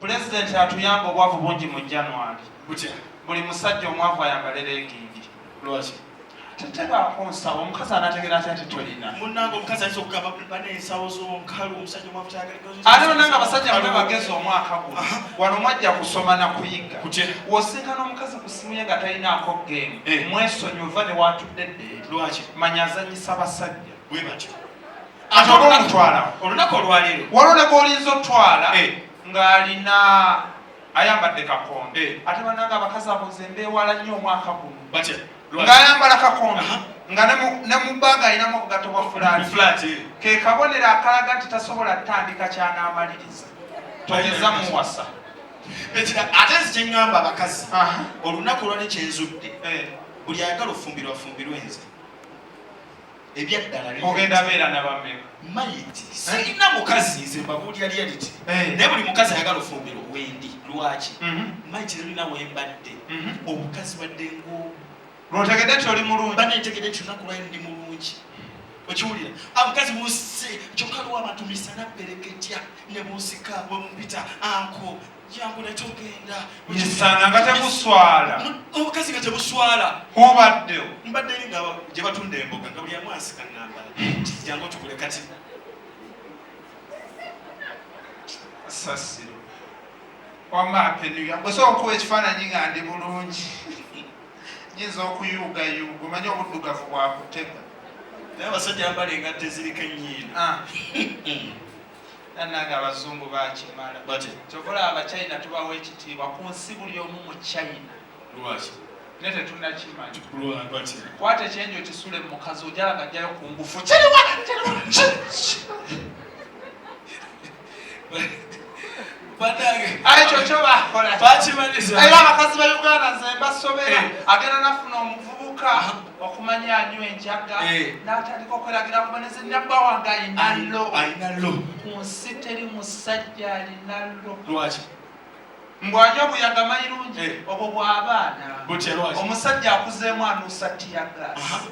Pulezidenti atuyamba obwavu bungi mu January. Butya? Buli musajja omwavu ayambale leegingi. Lwaki? Tetebaako nsawo omukazi anategeera atya nti tolina. Munnange omukazi ayinza okugaba bana ensawo z'omukalu omusajja omwavu tayagala. Ate munnange abasajja bano bagezi omwaka guno wano mwajja kusoma na kuyiga. Kutya? Wosinkana omukazi ku ssimu ye nga talinaako geemu mwesonyiwe va ne waatudde ddeeri. Lwaki? Manya azannyisa basajja. Bwe batyo. ate olwomutwala olunaku olwaleero waliwo ne gwolinza otwala eh. ng'alina ayambadde kakondo eh. ate bananga abakazi abo nze mbeewala nnyo omwaka guno ng'ayambala kakondo nga ne mu bbanga alinamu obugatto bwa fulaati eh. ke kabonero akalaga nti tasobola kutandika kyanaamaliriza toyinza muwasa ate nzi kyeŋŋamba abakazi olunaku olwali kyenzudde buli ayagala ofumbirwa afumbirwe nze ebyaddalaogenda beera nabameka mayiti eh? sirina mukazi nze mbabuulira reality eh. naye buli mukazi ayagala ofumbira wendi lwaki mhm. mayiti lulina wembadde mhm. obukazi badde ngo lwotegedde nti oli mulungi bana ntegedde nti olunaku lwayo ndi mulungi okiwulira amukazi munsi kyokka lwa abantu misana pereketya ne munsika bwemumpita anko misana nga temuswala obukazi nga tebuswala hubaddewo mbadde nga gye batunda emboga nga buli amwasika nambala kijangu tukule kati sasiro wama apenuya osobola okuwa ekifaananyi nga ndi bulungi nyinza okuyuugayuuga omanye obuddugavu bwakutega naye abasajja mbala engatte ziriko ennyiina ah. nanange abazungu bakimala kyova olaba abachina tubawa ekitiibwa ku nsi buli omu mu china naye tetunakimanyi kwata ekyenjo kisule mu mukazi ojala nga jjayo ku ngufu kiriwa ekyo kyo bakola era abakazi ba uganda nze mbasobera eh. agenda nafuna omuvubuka okumanya anywa enjaga eh. natandika okweragira kuba nezinabba wange ayinalo ayinalo ku nsi teri musajja alinalo lwaki mbwanywa buyaga mayirungi eh. obwo bwabaana omusajja akuzeemu anuusa tiyagasi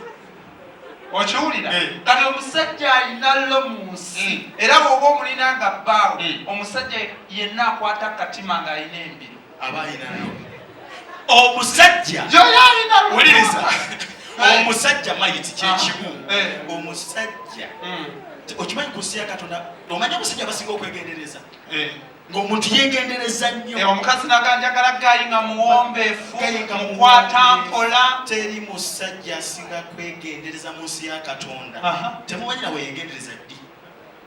okiwulira eh. kati omusajja ayinalo mu nsi hmm. era woba omulina nga bbaawo hmm. omusajja yenna akwata katima ng'alina embiro omusajja wuliriza omusajja mayiti kyekimu ah, eh. omusajja hmm. okimanyi ku nsi ya katonda omanya omusajja basinga okwegendereza eh. ngaomuntu yegendereza nnyo eh, omukazi naganjagala gayi nga muwombefu mukwata mpola teri musajja asinga kwegendereza mu nsi ya katonda temumanyira weyegendereza ddi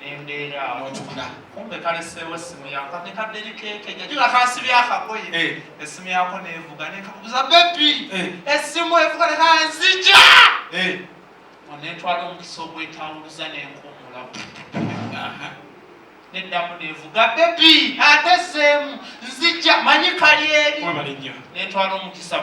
nembeera notugula kumbe kaleseewo essimu yako ne kaderi keke jajuga kansibi akagoye eh. essimu yako nevuga nekakubuza bebi eh. essimu evuga nekanzija eh. onetwala omukisa ogwetawuluza nenkumula neddamu nevuga bebi ate seemu nzija manyi kali eri netwala omukisa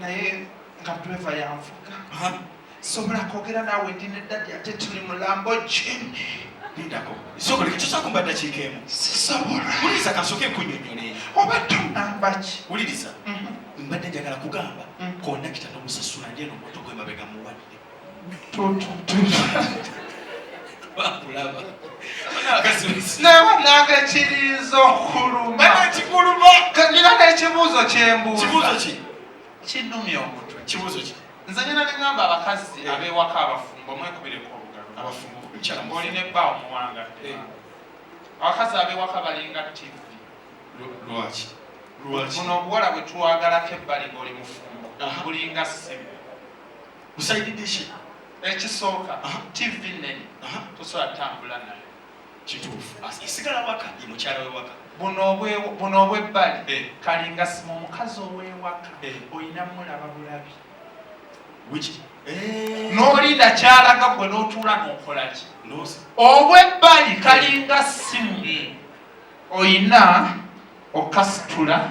naye nga driver yanvuga sobola kwogera naawe ndi ne dadi ate tuli mulambo jini lindako sobola ekitusaako mba ddakiika emu sisobola wuliriza kansooke nkunyonyole oba tonamba ki wuliriza mhm. mbadde njagala kugamba mhm. kondakita nomusasula ndyeno moto gwe mabega muwadde nagakiriza okuluma kanyina nekibuuzo kyembuuza kinumya omutwe kibuuzo ki nze nyina nengamba abakazi abewaka abafumbo mwekubireko olugalo abafumbo olina ebba omuwanga eh. abakazi abewaka balinga tivi lwaki buno obuwala bwetwagalako ebbali ngaoli mufumbo bulinga simu musaididishi ekisooka tv nene tosobola tambula nayo kituufu esigala waka ye mukyala wewaka buno obwebbali eh. kalinga sima omukazi owewaka eh. olina mulaba bulabi eh. nolinda kyalaga gwe notuula nokolaki obwebbali kalinga simu oyina okasitula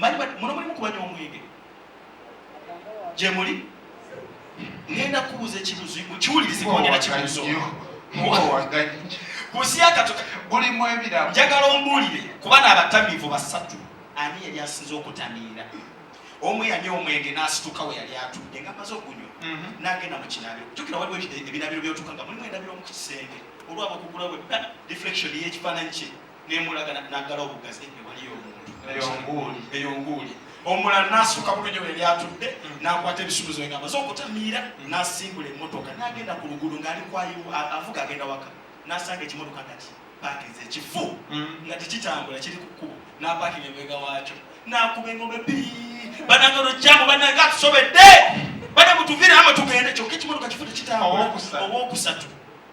manyi muno mulimu kubanywa omwenge gyemuli ngenda kubuuza ekibuzo kiwulirize kongera kibuzo kusiakatubulimu ebiramu njagala ombuulire kuba n'abatamiivu basatu ani yali asinze okutamiira omu yanywa omwenge n'asituka we yali atudde nga maze okunywa mhm. n'agenda mu kinabiro jukira waliwo ebinabiro byotuka nga mulimu endabiro mu kisenge olwaba okugula we deflection y'ekifaananyi kye nemulaga nagala obugazi ewaliyo omuntu eyo nguuli omula nasuka bulunyo bwe lyatudde mm. nakwata ebisuubizo egamba zokutamiira mm. nasimbula emotoka nagenda ku luguudo ngaali kwayiwa avuga agenda waka nasanga ekimotoka kati pakinze ekifu mm. nga tekitambula kiri ku kkubo napakinga emwega waakyo nakuba engombe bi bananga olujjamu bananga atusobedde bana mutuvire ama tugende kyokka ekimotoka kifu tekitambula owokusatu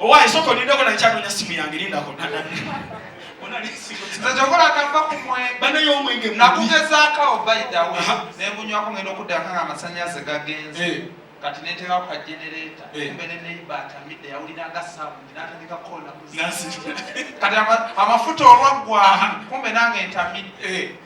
owaye soko nindeko nakyanoonya simu yange lindako kyokola kava ku mwenge nakugezaako awo baidawe nengunywako ngenda okuddako nga amasanyalaze gagenze eh. kati neteekako ka genereeta eh. kumbe ne neiba atamidde yawuliranga saabundi natandika kukola kati amafuta olwaggwa kumbe nange ntamidde eh.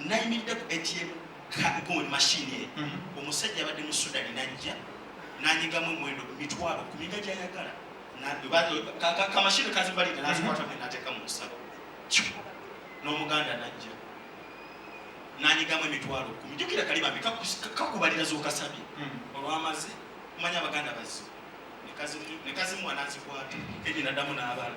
nayimiridde ku atm card machine ye mhm. omusajja abadde mu sudani najja nanyigamu omwendo mitwalo kumi nga gyayagala kamashini kazibalira nazikwata mwe nateeka mu nsalo n'omuganda najja nanyigamu emitwalo kumi jukira kali bambi kakubalira zokasabye mhm. olwamaze kumanya abaganda bazzi nekazimuwa nazikwata edi nadamu n'abala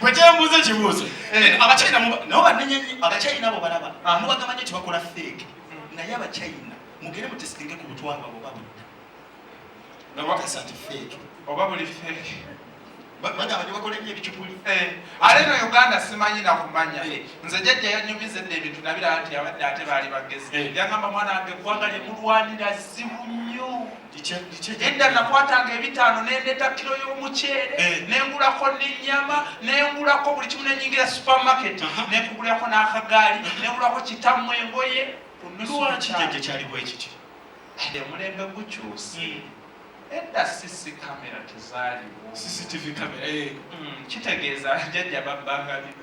bwe kyembuuza ekibuuzo eh. abachina nabo banenye nnyo abachina abo balaba ah. mubagamba nyo tibakola feeke hmm. naye abachina mugere mutesitinge ku butwalwa bwe babudda nabakasa nti feeke oba buli feeke bagamba nebakola nnyo ebicupuli eh. ale no uganda simanyi nakumanya eh. nze jajja yanyumiza edda ebintu nabiraba nti abadde ate baali bagezi yagamba mwana wange eggwanga lyemulwanira zibu nnyo edda nakwatanga ebitaano nendeta kiro y'omuceere eh. nengulako nenyama nengulako buli kimu nenyingira supermarket nekugulirako n'akagaali nengulako kitamu engoye omulembe gukyuse hmm. edda sisi kamera tezaliwo eh. hmm, kitegeeza jajja babbanga bino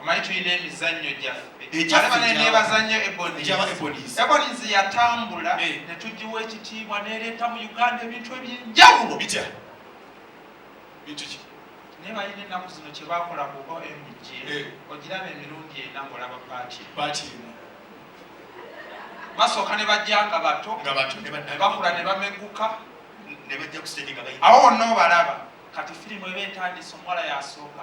omanyi tulina emizannyo gyafeebazannyo ebonies yatambula eh. netugiwa ekitiibwa nereeta mu uganda ebintu ebyenjawulo bitya bintu ki naye balina ennaku zino kyebakola ku omg eh. ogiraba emirundi ena ngaolaba paati paati emu basooka ne bajja nga bato bakula ne bameguka awo wonna obalaba kati firimu eba etandise omuwala yasooka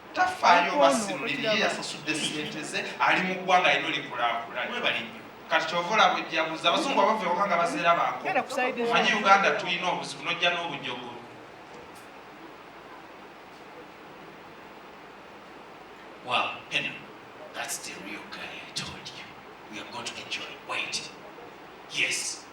tafaayo oba si mulimi ye yasasudde sente ze ali mu ggwanga lino likulaakula niwe balimi kati kyova olaba ojjabuza abazungu abava ewaka nga bazeera banko manyi uganda tulina obuzibu nojja n'obujogo Wow, anyway, that's the real guy I told you. We are going to enjoy. Wait. Yes,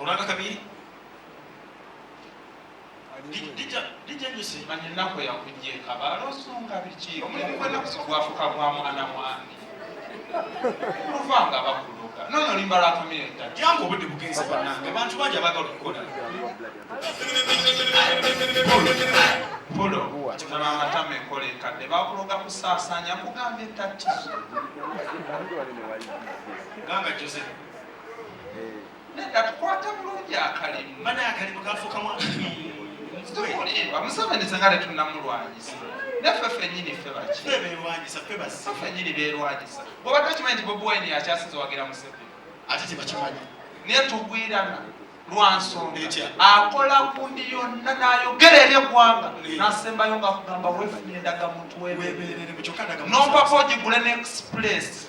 olanga kabiri manya ennaku yakujja ekabaala osonga biki omulimu gwenakuso gwafuka gwa mwana mwami oluva nga bakuloga nono limba lwa kamere ddala yange obudde bugenze banange abantu bangi abagala okukola polo kitaba amatama enkola enkadde bakuloga kusaasanya kugamba ettatizo ganga joseph Nedda tukwata bulungi akalimu. Mana akalimu kafuka mwa. Tukulimba museveni singa tetunnamulwanyisa naffe fenyini ffe baki fenyini beerwanyisa bwoba tokimanyi nti bobi wine akyasinza wagira museveni ate tebakimanyi naye tugwirana lwansonga akola kundi yonna nayogera eri eggwanga nasembayo nga kugamba wefunye endagamuntu webeerere nompaka ogigule ne express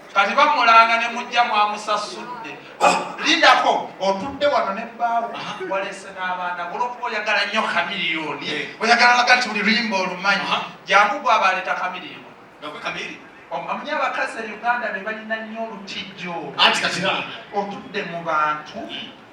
kati bamulanga ne mujja mwamusasudde ah, lindako otudde wano ne bbaawo ah, walese n'abaana olwokuba oyagala nnyo kamiliyoni eh. oyagala laga nti buli luyimba olumanyi ah. jangu gwe abaleeta kamiliyoni amunye abakazi e uganda be balina nnyo olutijjo otudde mu bantu hmm.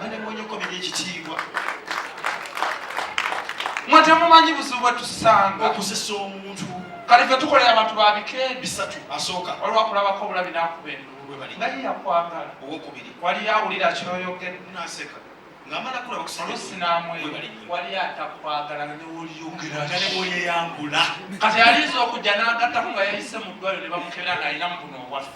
banemonyeko biri ekitiibwa mwe temumanyi buzibu bwe tusanga okusesa omuntu kale fe tukolera abantu babike bisatu asooka waliwo akulabako obulabi nakuba enduulu nga ye yakwagala owokubiri wali awulira kyoyogera naseka wali atakwagala newolyeyambula kati alinza okujja nagattako nga yayise mu ddwaliro ne bamukebera ngaalina mu buno obwaffe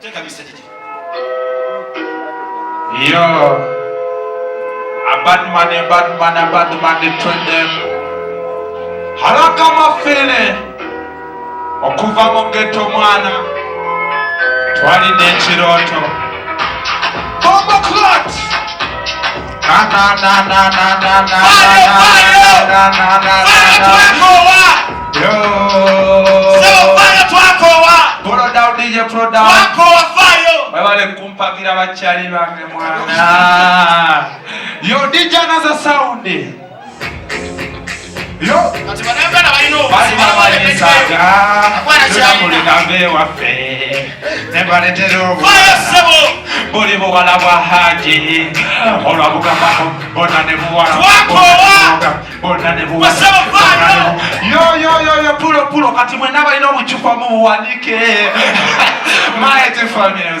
Teka message gye. Yo. A bad man, a bad man, a bad man, they train them. Haraka mafele. Okuva mu ghetto mwana. Twalina ekirooto. Bomba clot! webale kumpagira bakyali bange mwana yo dijanaza saundi buli buwala bwa haji olwabugambako bona ne buwala bona ne buwalayoyoyoyo pulo pulo kati mwena balina obucupa mu buwanike maete family